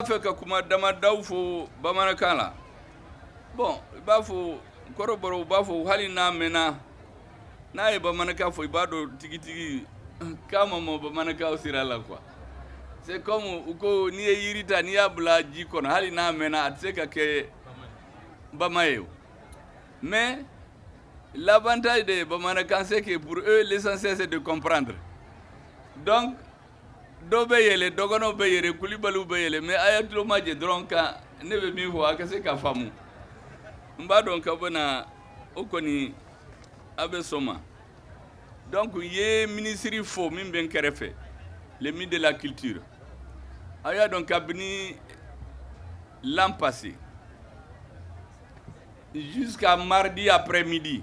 N b'a fɛ ka kuma damadaw fɔ bamanankan na bon i b'a fɔ kɔrɔbɔrɔw b'a fɔ hali n'a mɛnna n'a ye bamanankan fɔ i b'a dɔn tigitigi k'a ma mɔ bamanankan sira la quoi c'est comme u ko n'i ye jiri ta n'i y'a bila ji kɔnɔ hali n'a mɛnna a tɛ se ka kɛ bama ye o mais l'avantage de bamanankan c'est que pour eux l'essentiel c'est de comprendre donc dɔw bɛ yɛlɛ dɔgɔnɔw bɛ yɛlɛ kulibaliw bɛ yɛlɛ mais a' ye tulomajɔ dɔrɔn ka ne bɛ min fɔ a' ka se k'a faamu n b'a dɔn k'a bɛna o kɔni a' bɛ sɔn o ma donc n ye minisiri fo min bɛ n kɛrɛ fɛ le ministre de la culture a' y'a dɔn kabini l'an passé jusqu'à mardi après midi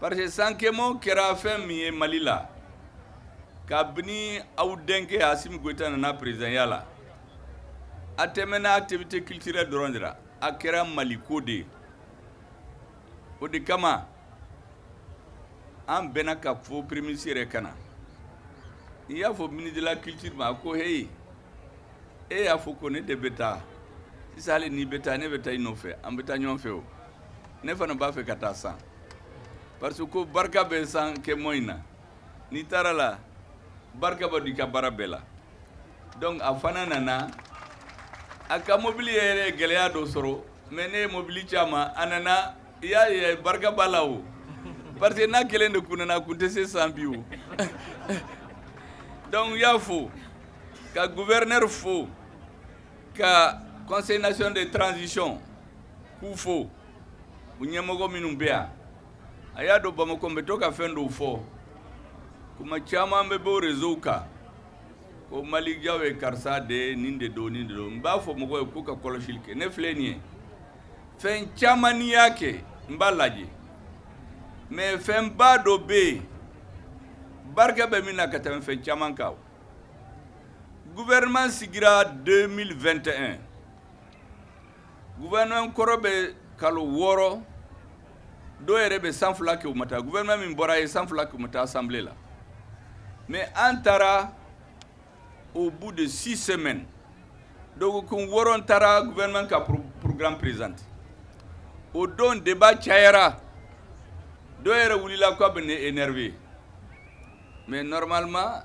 parce que sanke mɔ kɛra fɛn min ye mali la kabini aw denkɛ Assimi Goïta nana présidentya la a tɛmɛna activité culturelle dɔrɔn de la a kɛra mali ko de ye o de kama an bɛnna k'a fɔ premier ministre yɛrɛ ka na n y'a fɔ ministre de la culture ma a ko heyi e y'a fɔ ko ne de bɛ taa sisan hali n'i bɛ taa ne bɛ taa i nɔfɛ an bɛ taa ɲɔgɔn fɛ o ne fana b'a fɛ ka taa san parce que ko barika bɛ sanke mɔ in na n'i taara la barika bɛ don i ka baara bɛɛ la donc a fana nana a ka mobili yɛrɛ ye gɛlɛya dɔ sɔrɔ mais ne ye mobili ci a ma a nana i y'a ye barika b'a la o parce que n'a kelen de kun nana a kun tɛ se san bi o donc n y'a fo ka gouverneur fo ka conseil national de transition k'u fo u ɲɛmɔgɔ minnu bɛ yan a y'a dɔn bamakɔ n bɛ to ka fɛn dɔw fɔ kuma caman bɛ bɔ réseau kan ko malijaw ye karisa de ye nin de don nin de don n b'a fɔ mɔgɔw ye k'u ka kɔlɔsili kɛ ne filɛ nin ye fɛn caman n'i y'a kɛ n b'a lajɛ mais fɛnba dɔ bɛ yen barika bɛ min na ka tɛmɛ fɛn caman kan gouvernement sigira 2021 gouvernement kɔrɔ bɛ kalo wɔɔrɔ dɔw yɛrɛ bɛ san fila kɛ u ma taa gouvernement min bɔra ye san fila kɛ u ma taa assemblée la mais an taara au bout de six semaines dɔgɔkun wɔɔrɔ n taara gouvernement ka programme présenter o don débat cayara dɔw yɛrɛ wulila k'u bɛ ne énerver mais normalement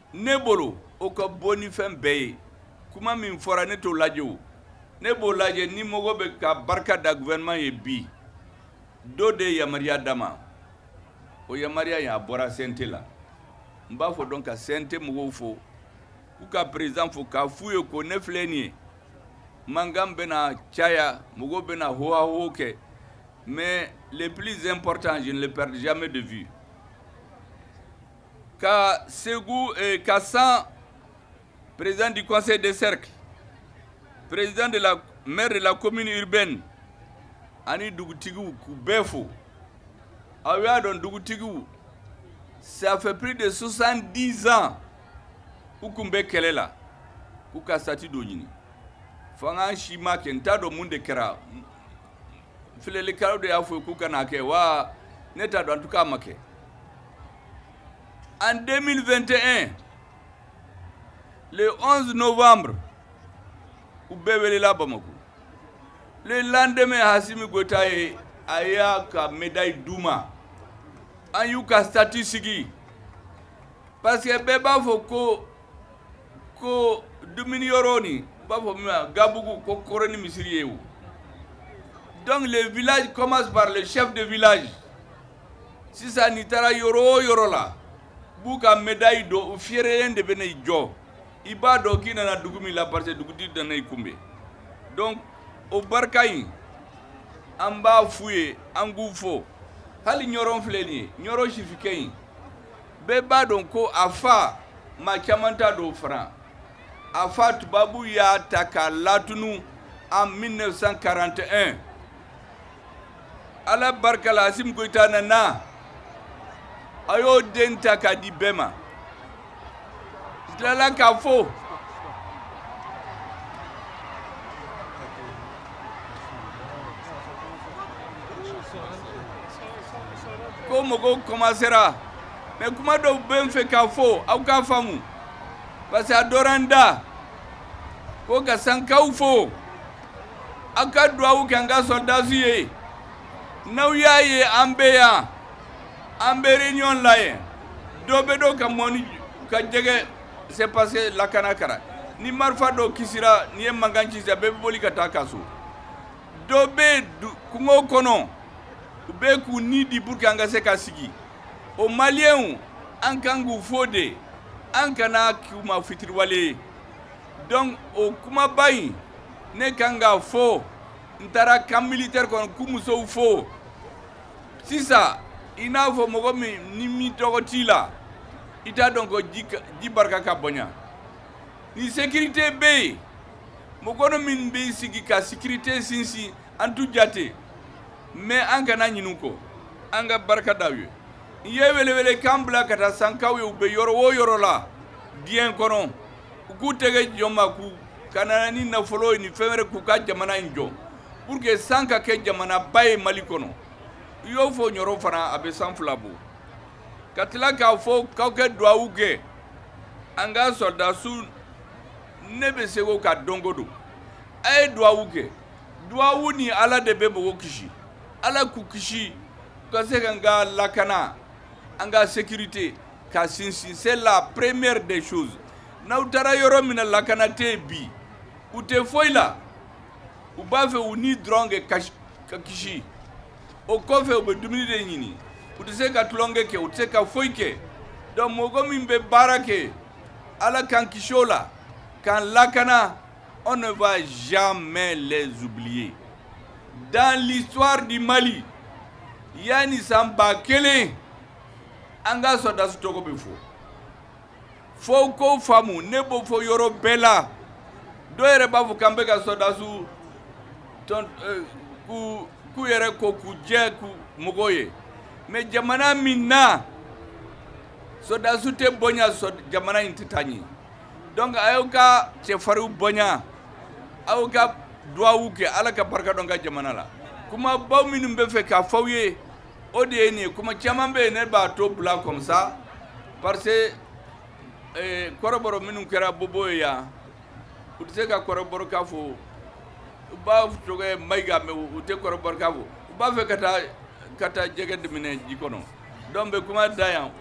ne bolo o ka bon ni fɛn bɛɛ ye kuma min fɔra ne t'o lajɛ o ne b'o lajɛ ni mɔgɔ bɛ ka barika da gouvernement ye bi dɔ de ye yamaruya d'a ma o yamaruya in a bɔra CNT la n b'a fɔ dɔn ka CNT mɔgɔw fo k'u ka président fo k'a f'u ye ko ne filɛ nin ye mankan bɛna caya mɔgɔw bɛna hohaho kɛ mais le plus important je ne le perdrai jamais de vue ka segu ka san président du conseil de cercle président de la maire de la commune urbaine ani dugutigiw k'u bɛɛ fo aw y'a dɔn dugutigiw ça fait plus de 70 ans u tun bɛ kɛlɛ la u ka statut dɔ ɲini fanga si m'a kɛ n t'a dɔn minnu de kɛra filɛlikɛlaw de y'a fɔ k'u kan'a kɛ wa ne t'a dɔn en tout cas a ma kɛ en 2021 le 11 novembre u bɛɛ welela Bamako le lendemain Assimi Goita ye a y'a ka médaille d'u ma an y'u ka statut sigi parce que bɛɛ b'a fɔ ko ko dumuni yɔrɔnin u b'a fɔ min ma gabugu ka kɔrɔ ni misiri ye o donc le village commence par le chef de village sisan n'i taara yɔrɔ o yɔrɔ la u b'u ka médaille don u fiyɛrɛlen de bɛ n'i jɔ i b'a dɔn k'i nana dugu min na parce que dugutigi de nana i kunbɛn donc o barika in an b'a f'u ye an k'u fo hali ɲɔrɔn filɛ nin ye ɲɔrɔn sirifikɛ in bɛɛ b'a dɔn ko a fa maa caman t'a dɔn fana a fa tubabu y'a ta k'a latunun en 1941 ala barika la asimi goyita nana a y'o den ta k'a di bɛɛ ma n tilala k'a fɔ ko mɔgɔw kɔmansera mais kuma dɔw bɛ n fɛ k'a fɔ aw k'a faamu parce que a dɔra n da ko ka sankaw fo An ka dugawu kɛ an ka sɔrɔdasiw ye n'aw y'a ye an bɛ yan an bɛ réunion la ye dɔ bɛ dɔ ka mɔni ka jɛgɛ c'est parce que lakana kɛra ni marifa dɔ kasira nin ye mankan ci yan bɛɛ bɛ boli ka taa a ka so dɔ bɛ kungo kɔnɔ u bɛ k'u ni di pour que an ka se ka sigi o maliyɛnw an kan k'u fo dɛ an kana k'u ma fitiriwale ye dɔnku o kumaba in ne ka kan k'a fɔ n taara kan militɛri kɔnɔ k'u musow fo sisan i n'a fɔ mɔgɔ min ni minnɔgɔ t'i la i t'a dɔn ko ji barika ka bonya ni sekirite bɛ yen mɔgɔ minnu bɛ sigi ka sekirite sinsin an t'u jate mɛ an kana ɲin'u kɔ an ka barika da u ye n ye welewelekan bila ka taa sankaw ye u bɛ yɔrɔ o yɔrɔ la diɲɛ kɔnɔ u k'u tɛgɛ di ɲɔgɔn ma k'u ka na ni nafolo ye ni fɛn wɛrɛ k'u ka jamana in jɔ pour que san ka kɛ jamana ba ye mali kɔnɔ i y'o fɔ yɔrɔ fana a bɛ san fila bɔ n ka tila k'a fɔ k'aw ka duwawu kɛ an ka sɔdasiw ne bɛ segin o kan don go don a ye duwawu kɛ duwawu ni ala de bɛ mɔgɔw kisi ala k'u kisi u ka se k'an ka lakana an ka sekirite ka sinsin c'est la première des choses n'aw taara yɔrɔ min na lakana tɛ yen bi u tɛ foyi la u b'a fɛ u ni dɔrɔn de ka kisi o kɔfɛ u bɛ dumuni de ɲini u tɛ se ka tulonkɛ kɛ u tɛ se ka foyi kɛ donc mɔgɔ min bɛ baara kɛ ala k'an kisi o la k'an lakana on ne va jamais les oublier dans l'histoire du mali yanni san ba kelen an ka sɔrɔdasiw tɔgɔ bɛ fɔ fo k'o faamu ne b'o fɔ yɔrɔ bɛɛ la dɔw yɛrɛ b'a fɔ k'an bɛka sɔdasiw k'u yɛrɛ ko k'u jɛ k'u mɔgɔw ye mɛ jamana min na sɔdasi tɛ bonya jamana in tɛ taa ɲɛ dɔnku a y'aw ka cɛfarinw bonya aw ka duwawu kɛ ala ka barika don an ka jamana la kuma baw minnu bɛ n fɛ k'a fɔ aw ye o de ye nin ye kuma caman bɛ yen ne b'a to bila comme ça parce que kɔrɔbɔrɔ minnu kɛra bɔbɔ ye yan u tɛ se ka kɔrɔbɔrɔkan fɔ u b'a tɔgɔ mayiga mɛ u tɛ kɔrɔbɔrɔkan fɔ u b'a fɛ ka taa ka taa jɛgɛ de minɛ ji kɔnɔ dɔnku n bɛ kuma dan yan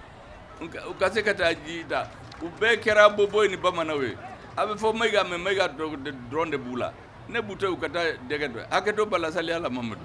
u ka se ka taa ji da u bɛɛ kɛra bɔbɔ ni bamananw ye a bɛ fɔ mayiga mɛ mayiga tɔgɔ dɔrɔn de b'u la ne b'u to u ka taa jɛgɛ dun hakɛ to bala lasaya la mamadu